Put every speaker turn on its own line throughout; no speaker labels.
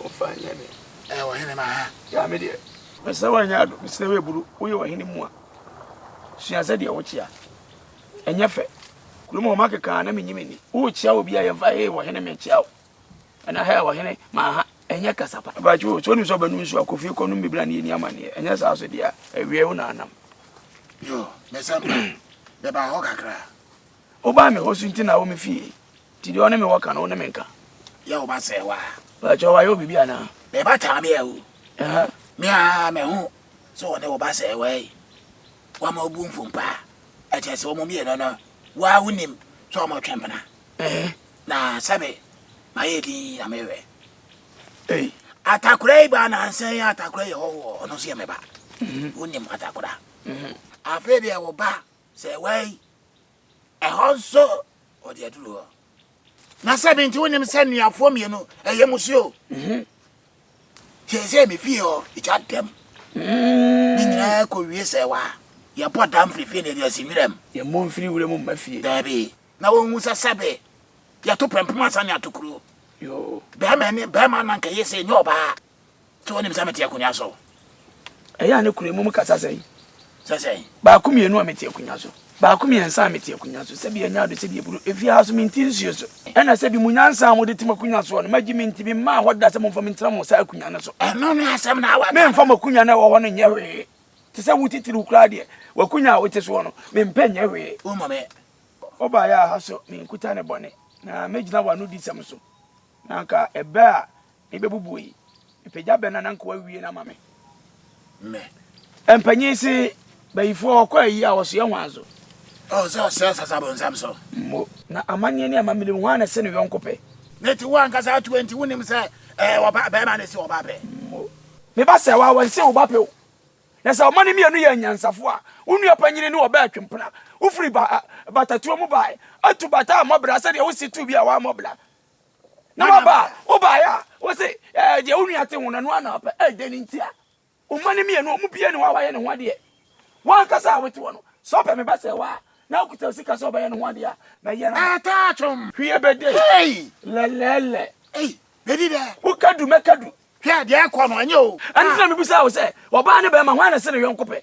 Wɔmfa nyɛ me. Ɛyɛ ɔhene ma ha. Gyaa me deɛ. Mesrɛ w'anyɛ ado. Mesrɛ w'aburu. Woyɛ ɔhene mu a. Sua sɛdeɛ wokyea. Ɛnyɛ fɛ. Kurom hɔ makeka a na menyi m'ani. Wokyea obi a yɛmfa hee ɔhene mekyea wo. Ɛna hɛɛ ɔhene ma ha. Ɛnyɛ kasa pa. Mpakyɛ o, sɛ wonim sɛ ɔbɛnom nsuo a, kɔ fie kɔnom bi bra na yɛnni amanneɛ. Ɛnyɛ saa so deɛ a, awieɛ wo na anam. Yoo, mesɛ mma. Bɛbaa hɔ kakra. Wobaa me hɔ su nti na wo me fie Nti deɛ ɔne me wɔ ka no wo ne me nka Yɛ wo ba sɛ waa Baakyɛ wayɛ wo bibi anaa Me ba taa me awu Me a me ho sɛ wɔne wo ba sɛ wai Wama obu mfo mpaa Ɛkyɛ sɛ wɔn mmienu no Waa wo nim sɛ wɔn twe mpena Na sɛbe ma yɛ din na me wɛ Ei Atakora yi ba nansa yi atakora yɛ hɔhoɔ Ɔno nso yɛ me ba Wo nim atakora Afei deɛ wo ba Sɛ wai, ɛhɔ nso ɔde aduru hɔ. Na sɛ bi nti wonim sɛ nnuafoɔ mmienu ɛyɛ musuo. Mhm. Kyerɛ sɛ me fie hɔ ɛgya dɛm. Mm. Ne nyinaa kɔ wie sɛ wa yɛbɔ dam firifiri na yɛde asi nwura mu. Yɛmmɔ mfiri wura mu mma fie. Daabi. Na wɔhu sɛ sɛbe yɛto pɛmpem ansa ne ato kuro. Yo. Bɛrima ne bɛrima na nka yɛ sɛ ɛnyɛ ɔbaa. So wonim sɛ mete akonnwa so? Ɛyɛ a ne kura mmom kasa sɛn? Sɛ sɛn? Baako mmienu a mete akonnwa so. Baako mmiɛnsa a mete akonnwa so. Sɛbi anya ado sɛbi aburo. Efi ha so mente nsuo so. Ɛna sɛbi mu nyansa a mode te mo akonnwa soɔ no, magye me nti memmaa hɔ da sɛ momfa me ntena mo saa akonnwa no so. Ɛno ne asɛm na awa. Memfa mo akonnwa no a ɛwɔ hɔ no nyɛ hwee. Te sɛ wo titiriw koraa deɛ, w'akonnwa a wote soɔ no, mempɛ nyɛ hwee. Wommɔ me. Wobaeɛ a ha so menkuta ne bɔne, na mɛgyina w'anodisɛm so. Na anka ɛbɛ a Me bɛbubu yi. Mpagya bɛ na na nkoa wie na ma me. Mɛ. Mpanyin se bayifoɔ hɔ kɔ ayi a wɔsoɛ ho azo. Ɔwɔ sɛ ɔsɛ asase abɔnsam so. Mo. Na amanneɛ ne amammerɛ mu hwan na ɛsɛ ne yɔnko pɛ? Ne te wo ankasa ato enti wonim sɛ ɛɛ ɔba bɛrima na ɛsi ɔba pɛ. Mo. Me ba sɛ wa wɔnse wo ba pɛ o. Na sɛ ɔma no mmienu yɛ anyansafo a wo nua panyini ne ɔbɛ atwe mpena. Wofiri ba, batatuo mu bae atu bata a mmɔ bra sɛdeɛ wosi tu bi a wammɔ bra. Na waba a, wobaeɛ a, wo se eh, deɛ wo nua te ho no, ɛno ara na ɔpɛ. Eh, dɛn nti a? Wo mma no mmienu, wɔn biara ni hɔ a wayɛ ne ho adeɛ. Wo ankasa a wote hɔ no, sɛ ɔpɛ me ba sɛ wo a, na ɔkuta sika sɛ ɔbɛyɛ ne ho adeɛ a, mɛyɛ no ma. Taa twom. Hwie bɛde. Hey! Lɛlɛɛlɛ. Ei, bɛdi dɛ. Woka du, mɛka du. Hwɛ, deɛ ɛrekɔ no, ɛnyɛ o. Ɛno nti na mebisaa wo sɛ, ɔbaa ne bɛrima, hwan na ɛse ne yɔnko pɛ?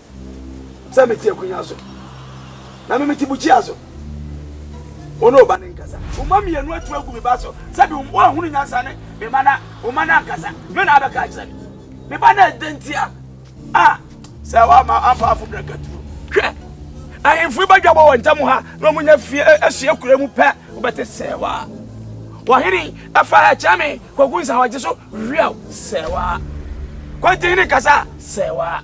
sɛ metse akonnwa so, na me metse bukyia so. Wo ne wo ba no nkasa. Wo mma mmienu atu agu me ba so. Sɛbi woanhunu nyansa ne me mma na wo mma no ankasa. Me na abɛka akyerɛ me. Me ba no ɛdɛ ntia. A, sɛ woama ampa afo brɛ katuro. Hwɛ, ahemfo yi bɛdwabɔ wɔn ntam ha na wɔn nya fie ahyia kura mu pɛ, wobɛte sɛɛwa. Wɔhene ɛfa ha kyɛ me, kwaku nsa hɔ gye so, hwiaw, sɛɛwa. Kwanti hene kasa, sɛɛwa.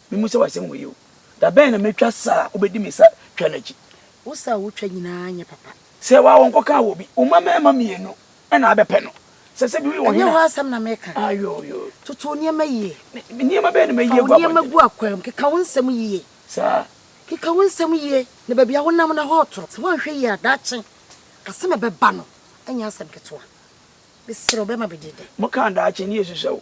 Mimmu sɛ w'asɛm wɔ yie o. Da bɛn na mɛtwa sa a wobɛdi me sa twa no akyi? Wo sa a wotwa
nyinaa nyɛ papa. Sɛ w'awo nkɔkaa
wɔ obi. Wo mma mmarima mmienu na abɛpɛ no. Sɛ sɛ bi woyɛ wɔ hena? Ɛnyɛ hɔ asɛm na meka.
Ayooyoo. Toto
wo nneɛma
yie. Nneɛma bɛn na mayi
agu abɔnten? Fa wo nneɛma gu akwan mu. Keka
wo nsɛm yie. Saa.
Keka wo nsɛm
yie na baabi a wonam no, ɛhɔ retoro. Sɛ woanhwɛ yie a, daakye asɛm a ɛbɛba no nyɛ asɛm ketewa. Mesrɛ wo, bɛrima bɛdi dɛn? Mokaa daakye ne
yɛsusua o.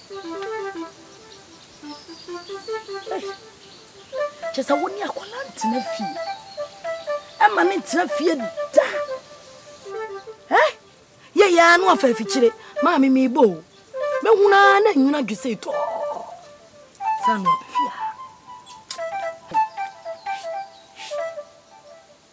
Kyɛ sɛ wo ne akwadaa ntena fie. Ɛma ne ntena fie da. Ɛ yɛ yɛ ano afa afikyire. Maa me mi bo. Me hu na na nyina dwe sɛ tɔ. Sanu abɛfia.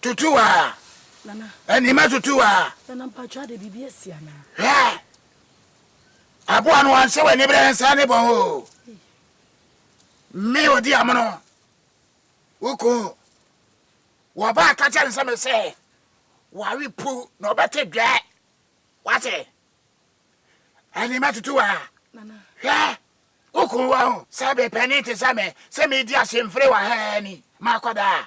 Tutu
a.
Nana. Anima tutu a.
Nana mpacho ade
bibi asi ana. Hwɛ.
Aboa no wanhyɛ w'ani berɛ nsa ne bɔn o. Me odi amono. Woko. Wɔba aka kyɛ ne sɛ me sɛ wawe pu na ɔbɛte dwɛ. Wate. Anima tutu a. Nana. Hwɛ.
Woko
wɔ ho. Sɛ bepɛni te sɛ me sɛ medi ahyemfere wɔ ha ni makɔdaa.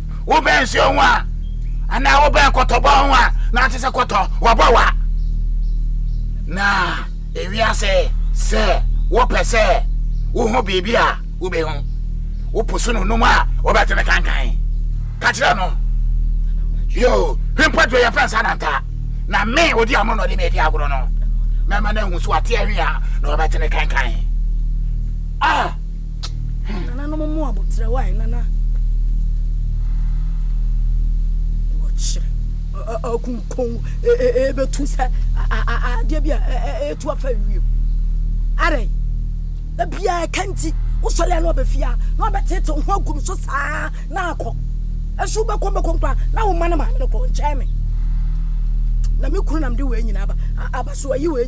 Wobɛn nsuo ho a, anaa wobɛn kɔtɔbɔ ho a, na ɔte sɛ kɔtɔ, wɔbɔ wa. Na ewiase sɛ wopɛ sɛ wohu biribi a wobɛhu. Wopo so no num a, wobɛte ne kankan. Ka kyerɛ no, yoo, hwɛ mpo aduro yɛfrɛ nsa nantaa, na me odi amono na ɔde me adi agorɔ no, mɛma no ahu so ate ahwe a, na wɔbɛte ne kankan. Ah!
Nananom mmoa bo trɛ wae nana. Wɔ kyerɛ. Akunkun ebetu sɛ adeɛ bi a etu afa wiem. Ara yi. Ebia ɛka nti wosɔre a na ɔbɛfi a na ɔbɛtete ho agu no so saa na akɔ. Ɛso bɛkɔ bɛkɔ nkwa na wo ma no maame no kɔ nkyɛn me. Na me kunu nam de wei nyina aba. Aba so ayi wei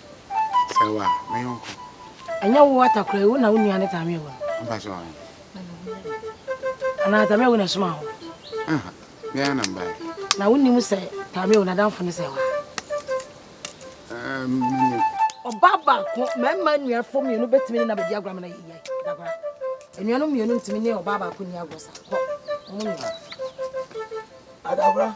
Sɛwa, me yɔnko. Ɛnyɛ wo wata
koraa, wo na wo nua ne Tame awu no. Mpa sɛ ɔhe. Anaa
Tame
awu na ɛsoma ho. Aha,
bia na mbae. Na wonim sɛ
Tame awu n'adamfo ne Sɛwa. Um, menim. Ɔbaa baako, mmarima nuafo mmienu betumi ne na bedi agorɔ ama na yɛ yie. Dagora. Nnuanom mmienu ntumi ne ɔbaa baako ni agorɔ sa. Kɔ. Wɔn nyinaa. Adagora.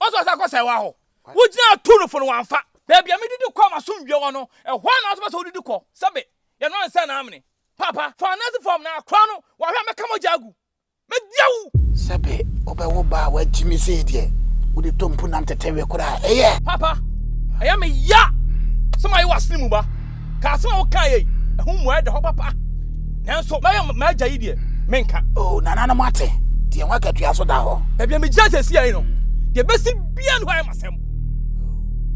Ɔsɛ ɔsɛ akɔsɛe wɔ ahɔ. Wogyinaa tu no fo no wamfa. Baabi a medidi kɔ m'asomdwoe wɔ no, ɛhɔ ara na wo nso wopɛ sɛ wodidi kɔ. Sɛbe, yɛnoa nsã na amene. Paapa, fa ananse fam na kora no, wahwɛ a mɛka mogya agu. Media wo! Sɛbe,
wobɛwo ba a wagye me sei deɛ, wode tɔ mpunam tɛtɛwe koraa. Ɛyɛ! Paapa,
ɛyɛ me ya sɛ maye w'asene mu ba. Ka asɛm a wokaeɛ yi ho mmuaeɛ da hɔ papa, nanso mɛyɛ m'agya yi deɛ menka. O nananom ate,
deɛ ho akatua so da hɔ. Baabi a megyina seesei yi
no, deɛ ɛbɛsi biara no hɔ ayɛ m'asɛm.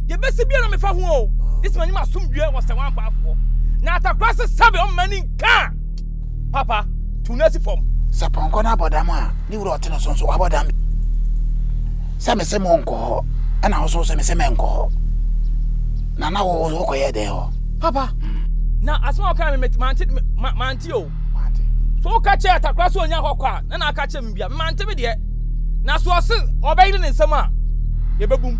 Deɛ ɛbɛsi biara na mefa ho o, gye sɛ manya m'asomdwoeɛ wɔ Sɛwɛ ampaafoɔ na Atakorase Sɛbɛ ɔman no nka. Papa, tu no si fam. Sɛ pɔnkɔ no abɔ dam
a, ne wura ɔte no so nso wabɔ dam. Sɛ mese mo nkɔ hɔ, ɛna wo so sɛ mese menkɔ hɔ. Na na wo wokɔyɛ dɛn hɔ? Papa, hmm.
na asɛm a ɔkaa me mante mante o. So woka kyerɛ atakora sɛ ɔnya hɔ kɔ a, na na aka kyerɛ me bia. Mante me deɛ. Na so ɔse ɔbɛyere ne nsɛm a, yɛbɛbum.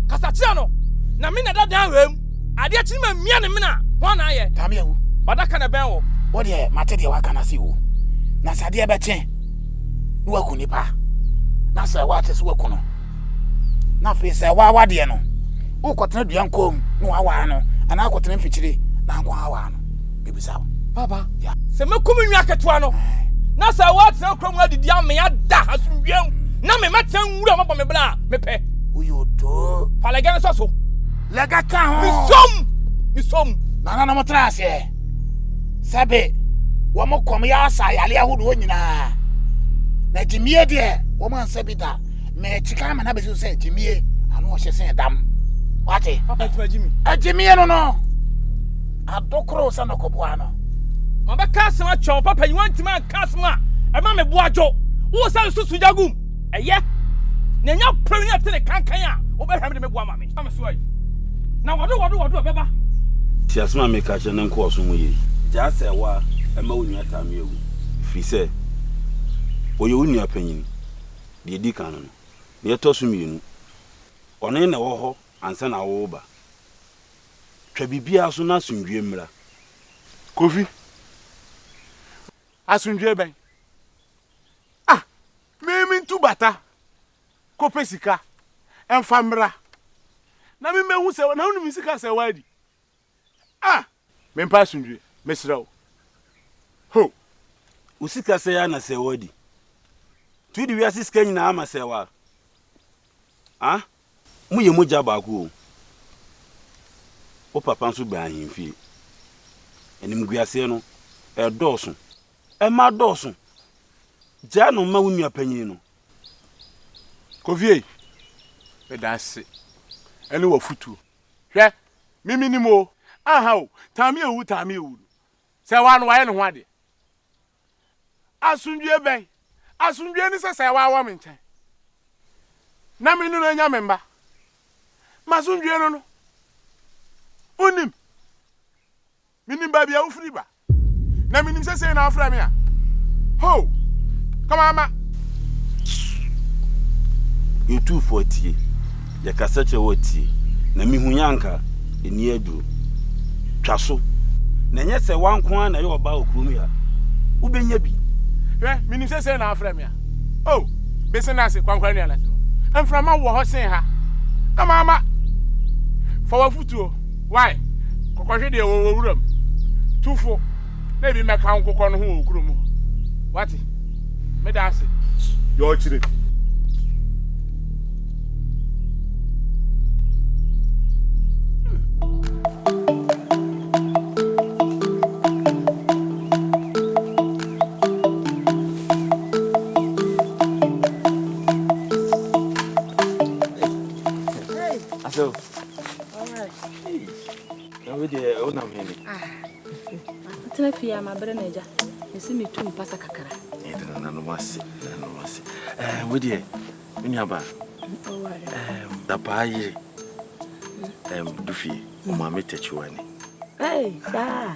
Kasa kyerɛ no, na me na dadan wɛm. Adeɛ kye ne ma mia ne mena, hwan na ayɛ? Dame awu. W'adaka na
ɛbɛn wo.
Wo deɛ mate deɛ
waka no ase o. Na sɛ adeɛ bɛkye na waku nipa, na sɛ woate so waku no, na afei sɛ waawa deɛ no, wokɔtena dua nkɔm na waawaa no, anaa akɔtena mfikyire na anko aawaa no? Bɛbisa wo. Papa, yeah.
sɛ mɛku me nua ketewa no, eh. na sɛ woatena kura mu adidi ame ada asomdwuam, na me mɛtena nwura mabɔ me bla a, mepɛ. Woyɛ odoo.
Fa lɛgɛn no sɔ so.
Lɛgɛ ka ho.
Misom! Misom!
Nananom tra aseɛ.
Sɛbe, wɔn kɔm yɛ asa ayale ahodoɔ nyinaa. Na gyimie deɛ, wɔn ansa bi da. Mɛkyi ka ama no abɛsi sɛ gyimie, ano ɔhyɛ sɛ dam. Wate? Papa tuma gyimi.
Agyimie no no,
adokoro sɛ nɔkɔboa no. Mabɛka asɛm
akyerɛ wo, papa, nyiwa ntumi anka asɛm a ɛma me bo adwo. Wowɔ sɛ nsusu gyagum. Ɛyɛ. Na ɛnyɛ pere ne ɛte ne kankan a wobɛhwɛ me de me bo ama me. Tie asɛm a
mereka akyerɛ na nkɔ w'asom mu yie. Gyaa sɛewa, mma wo nua Tamia nwu, ɛfiri sɛ ɔyɛ wo nua panin, deɛ ɛdi kan no no. Deɛ ɛtɔ so mmienu, ɔne na ɛwɔ hɔ ansa na woreba. Twa biribiara so na asomdwoeɛ mmra. Kofi,
Asomdwoeɛ bɛn? Ah! Me mentu bata kɔ pɛ sika ɛnfa mmra na me mɛhu sɛ na wonim sika asɛe w'adi ah me mpa asomdwie mesrɛ wo ho
wo sika sɛe a na sɛe
w'adi
nti wode wiase sika nyinaa ama sɛe wa ah mo yɛ mogya baako o wo papa nso bɛn ahemfie animguaseɛ no ɛdɔɔso ɛma dɔɔso gyaa no ma wo nua panyin no
Kofie, meda ase ne w'afotuo. Hwɛ, me menim o. Aha o, Tami awu Tami awu no, sɛ ɛwɔ a no wayɛ ne ho adeɛ. Asomdwoeɛ bɛn? Asomdwoeɛ ne sɛ sɛ ɛwɔ a wɔ me nkyɛn na me ne no anya me mma. M'asomdwoeɛ no no, wonnim. Minim baabi a wofiri ba, na minim sɛ sei na wofrɛ me a, hoo, ka mamma.
Yɛtu fo a tie, yɛkasa kyerɛ wo a tie, na mihu yɛ anka enni aduro. Twa so, na ɛnyɛ sɛ wo ara nko ara na ɛyɛ ɔbaa wɔ kurom yi a, wobɛnya bi. Hwɛ, minim sɛ
sei na wofrɛ me a, oh, bese no ase, Kwankwa nua Lasima, mframa wɔ hɔ sen ha, ka mamma. Fa w'afotuo. Wai, kɔkɔhwe deɛ ɔwɔ wuram. Tu fo na ebi mmɛka wo nkokɔ no ho wɔ kurom hɔ. Wate? Meda ase. Yɛ ɔkyire.
na wei deɛ wonam he ne
atena fie a mabrɛ no agya mese metu mpasa kakra ɛde nananom ase
nananom ase wei deɛ me nuaba dapaa yere du fie ɔmaame takyiwani
saa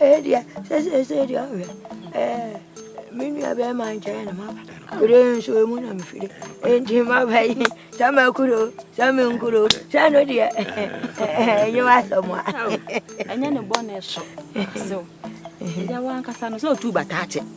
ɛdeɛ sɛ sɛ sɛ deɛ ɔhwɛ me nua bɛrima nkyɛn na maba kuro nso mu na mefiri enti maba yi sɛ makuro sɛ menkuro sɛ no deɛ ɛnyɛ wasɛm a ɛnyɛ
ne bɔne so ɛda wankasa no sɛ ɔtu bataakye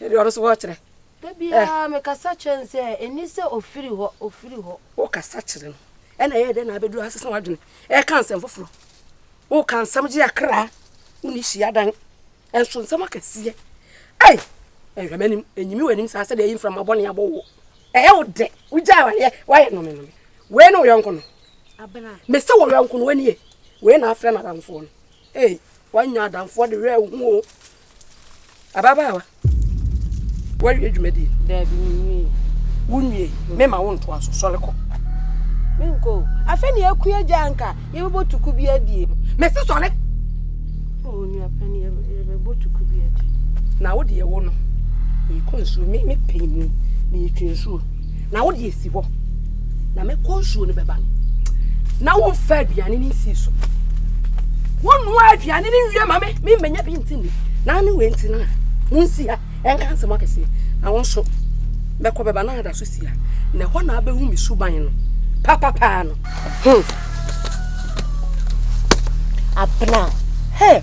Ɛnde ɔno nso hɔ kyerɛ. Da biara mekasa
kyerɛ no sɛ ɛni sɛ ɔfiri hɔ, ɔfiri hɔ. Wokasa
kyerɛ no, ɛna ɛyɛ dɛn na abɛduru ha sesa w'adwene ɛka nsɛm foforɔ. Woka nsɛm gye akra, wonni hyiadan, ɛnso nsɛm akɛseɛ. Ei, ɛnhwɛ m'anim, ɛnyimi w'anim saa sɛdeɛ ɛyi mframa bɔne abɔ wo. Ɛyɛ wo dɛ, wogyae w'adeɛ, woayɛ nome nome. Wei ne wo yɔnko no? Abena. Mese wo yɔnko no, w'ani ye? Wei na afrɛ n'adamfoɔ no. Ei, woanya adamfoɔ de werɛ ahu o. Ababaawa, woawie dwumadie? Daabi, menwie. Wonwie? Mema wo ntoa so, sɔre kɔ. Menkɔ o. Afei ne akua agya anka yɛbɛbɔ tuku bi adie. Mese sɔre! O, nua pani, yɛbɛbɔ tuku bi adie. Na wo deɛ wo no, meekɔ nsuo, mepɛ mu, meetwe nsuo. na wode asi hɔ na mɛkɔ nsuo no bɛba no na womfa aduane no nsii so wonnoa aduane no nwie ma me memmɛnya bi nti ni na ne wei nti no a monsi ha ɛnka nsɛm akɛseɛ na wo nso mɛkɔ bɛba na ada so si ha na ɛhɔ na abɛhu me suban no papapaa no hmm.
abena hey.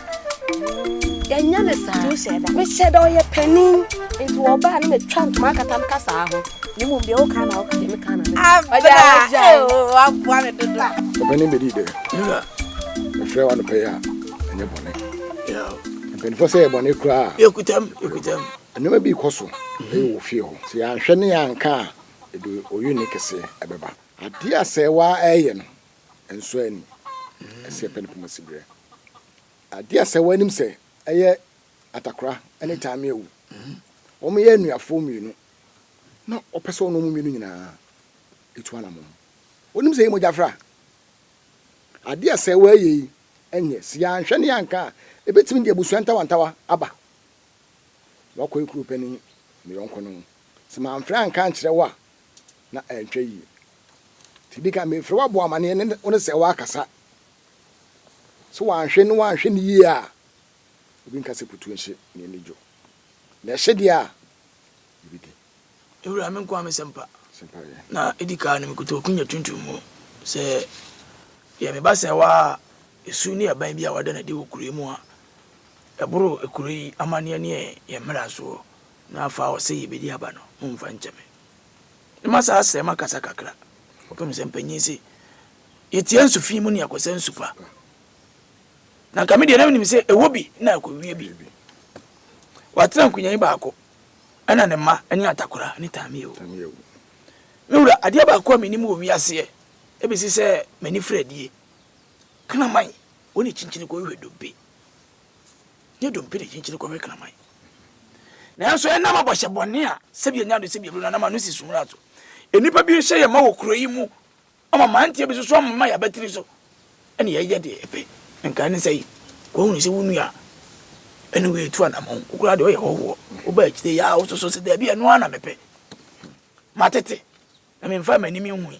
yɛnyɛ ne saa mehyɛ da
ɔyɛ panin
nti wɔbaa ne metwa ntoma akata m kasaa ho ne mmom deɛ woka
na woka deɛ meka na
waboa me dodo ɔpɛne bɛdii dɛ
mefrɛ wo anɔpɛ yi a ɛnyɛ bɔne
mpanimfoɔ sɛ yɛ
bɔne koraa yɛkutam yɛkutam
nneɛma bi
kɔ so ɛyɛ wɔ fie hɔ sɛ yɛanhwɛ ne yɛanka a ɛde ɔyɛ ne kɛseɛ ɛbɛba adeɛ a sɛ waa ɛyɛ no nsɔ ani, ɛsɛ yɛpɛ ne poma si berɛ. Adeɛ a sɛ woanim sɛ ɛyɛ Atakora ne Tammy Awu, wɔyɛ anuafoɔ mmienu na wɔpɛ sɛ wɔne wɔn mmienu nyinaa tu anamɔn. Wonim sɛ ɛyɛ mogyafra. Adeɛ a sɛ woayɛ yi nyɛ, sɛ yɛanhwɛ ne yɛanka a, ɛbɛtumi de abusua ntawantawa aba. Woakɔ yɛ kuropani, me yɔnko no, sɛ mamfrɛ anka ankyerɛ wo a, na ɛnhwɛ yie. Nti di kan mefrɛ wo abɔ amanneɛ ne wo ne sɛ woakasa. Sɛ wanhwɛ ne wanhwɛ no yie a, obi nka sɛ kutu nhye ne ani dwo. Na ɛhye deɛ a, biribi di.
Ewura, me nkoa me sɛmpa. Sɛmpa yɛ. Na edi kaa no mekuta okunya tuntum mu sɛ yɛ me ba sɛɛwa a esu ne aban bi a wada no adi wɔ kuro yi mu a ɛboro kuro yi amanneɛ ne yɛn mmarasoɔ Na afa a ɔsɛ yebedi aba no, mommfa nkyɛ me. Na ma saa srɛ makasa kakra, kɔpem sɛ mpanyin se, Yetia nsu fi mu nea kɔsa nsu pa. Na nka me deɛ na menim sɛ ɛwɔ bi na ɛkɔwie bi. Watena nkunyanyi baako, ɛna ne mma ne Atakora ne Tamia wu. Me wura, adeɛ baako a menim wɔ wiaseɛ ɛbɛsi sɛ m'ani firi adie, kraman, wɔne kyinkyini kɔhwehwɛ dobe. Yɛn dompe na ɛkyinkyini kɔhwɛ kraman. Nanso ɛnam abɔhyɛ bɔne a sɛbi anya do sɛbi abere no anam ano si so mmara so. Nnipa bi nhyɛ yɛn ma wɔ kuro yi mu ama mmeranteɛ bi soso ama yɛabatiri so ɛne yɛyɛ deɛ ɛpɛ. Nkae ne sɛ yi, wɔahunu sɛ wo nua ɛne wo ɛtu anamɔn. Wo koraa deɛ ɔyɛ hɔhoɔ. Woba akyire yi a wososo sɛ daabi ɛno ara na mepɛ. Matete na memfaa m'anim nhui.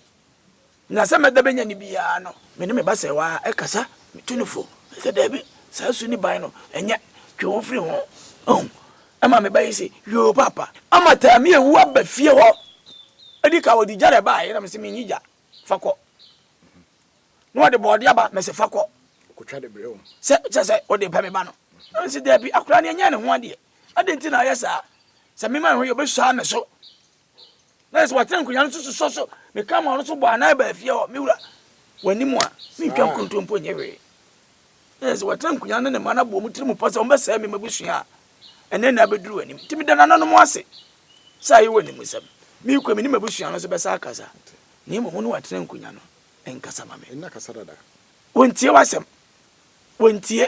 Na sɛ mɛda bɛnya no biara no, me ne me ba sɛ waa ɛkasa, me tu no fo, me sɛ daabi, saa su ne ban no, ɛnyɛ, twe wo firi ho, ohu, ɛma me ba yi se, yoo paapa. Ama Taami awu aba fie hɔ, ɛdi kan ɔde gya na ɛbaaɛ, na me se menni gya, fa kɔ, na ɔde bɔɔdeɛ aba, me se fa kɔ,
sɛ kyerɛ sɛ ɔde
repɛ me ba no, na me se daabi, akwadaa no ɛnyɛɛ ne ho adeɛ, adɛn nti na ayɛ saa, sɛ me ma me ho yɛ, ɔbɛsuaa me so, na yɛ sɛ watena nkonnwa no so sosɔ so meka ma ɔno so bɔ anan baa fie hɔ me wura w'anim a mentwa nkontompo nyɛ hwee na yɛ sɛ watena nkonnwa ne ne mma no abɔ mu tiri mu pɔ sɛ wɔbɛsɛe me mabusua a ɛnɛ na abɛduru w'anim nti meda nananom ase sɛ ayɛ w'anim nsɛm mekɔ me ne mabusua no so bɛsa akasa na mmom wo ne watena nkonnwa no nkasa ma me
wontie w'asɛm
wontie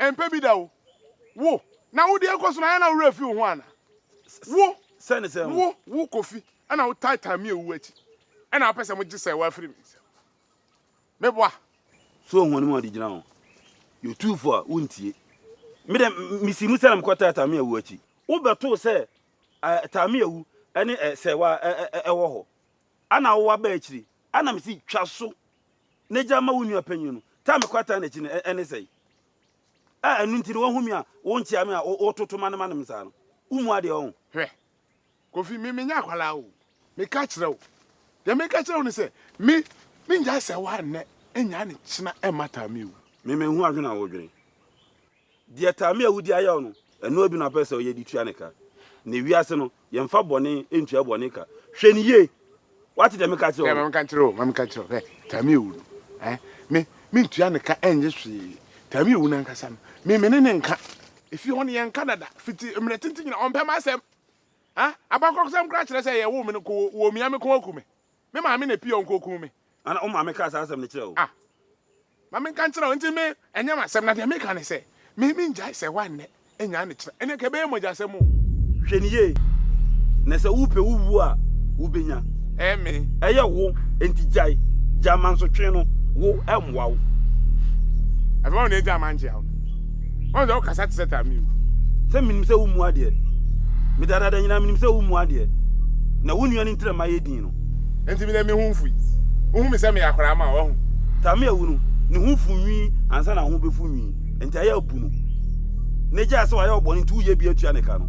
Ɛmpɛ bi da o. Wo, na wode ɛkɔ so no ayɛ na wo werɛ afi wo ho anaa? Wo, wo,
wo Kofi,
ɛna wo taataa me awuo akyi, ɛna wopɛ sɛ mo gye sɛɛ wo afiri me nsam.
Me boa.
So
ohun anim a
ɔde gyina
ho? Yɛ otumfo a wontie. Me de, misi mu sɛ na mekɔ taataa me awuo akyi. Wo bɛtoo sɛ eh, taa me awu ɛne eh, sɛɛ wo a eh, eh, eh, ɛwɔ hɔ. Ɛna wo aba akyiri, ɛna mese twa so. ne gya ma wo nua panyin no, taa me kɔ ataa n'akyi no, ɛne sɛn? A ɛno nti no wahu me a, wonkyea me a, wototo m'anomane m saa no, wummu adeɛ ɔho. Hwɛ,
Kofi, me menyɛ akwadaa o, meka kyerɛ wo, deɛ meka kyerɛ wo ne sɛ, me, mengyae sɛ wo a nnɛ, nnyae no kyena ɛmmata me o. Me, menhu adwene a
wodwene. Deɛ Tami a wodi ayaw no, ɛno ara bi na ɔpɛ sɛ ɔyɛ de tua ne ka. Nnɛ wiase no, yɛmfa bɔne ntua bɔne ka. Hwɛ no yie! Woate deɛ meka kyerɛ wo Hwɛ, ma no? menka nkyerɛ wo, ma menka nkyerɛ wo,
hwɛ, Tami awu no, ɛ, me, mentua ne ka nnye hwee. Tami awu no ankasa no, me, me ne ne nka. Efie hɔ no, yɛnka dada. Fiti mmerɛ tenten nyinaa, ɔmpɛ m'asɛm. Ɛ, abakɔsɛm koraa kyerɛ sɛ yɛwoo me no, ko, wɔmia me kɔn aku me. Me maame na epii a onkokum me. Ana wo maame kaa saa
asɛm no kyerɛɛ wo? Ah! Ma
menka nkyerɛ wo, enti me, ɛnyɛ m'asɛm, na deɛ meka ne sɛ, me, mengyae sɛ woannɛ, nnyaa ne kyena, ɛnneɛ nka ɛbɛyɛ mogyasɛm o. Hwɛ no yie,
na sɛ wopɛ wo wuo a, wobɛnya. Ɛyɛ me.
Ɛyɛ wo,
enti gyae, gyae mansotwee no, wo, ɛmmoa wo.
Afei, wɔn na egyaa mankyea wo no. Ɔno deɛ ɔkasa te sɛ Tamiu. Sɛ menim sɛ wommu
adeɛ. Medadaada nyinaa menim sɛ wommu adeɛ. Na wo nua no ntira mma yɛ dinn no. Enti me deɛ me ho
mfui. Wohu me sɛ meyɛ akwadaa ma wo, wahu? Tamiu awu no,
ne ho fuu nwi ansa na ho bɛfu nwi. Enti ayɛ abu no. N'agya sɛ wayɛ wo bɔne nti woyɛ bi atua ne ka no.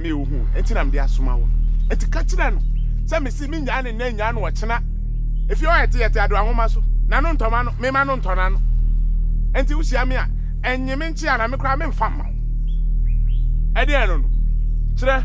me wo ho, enti na mede asoma wo no. Enti ka kyerɛ no sɛ mese mennyaa no nnɛ nnyaa no ɔkyena. Efie hɔ a ɛte, yɛte adowa nwoma so, na no ntɔma no, memma no ntɔ n'ano. Enti wohyia me a, nnye me nkyea na me koraa memfa mma wo. Ɛdeɛn no no? Kyerɛ.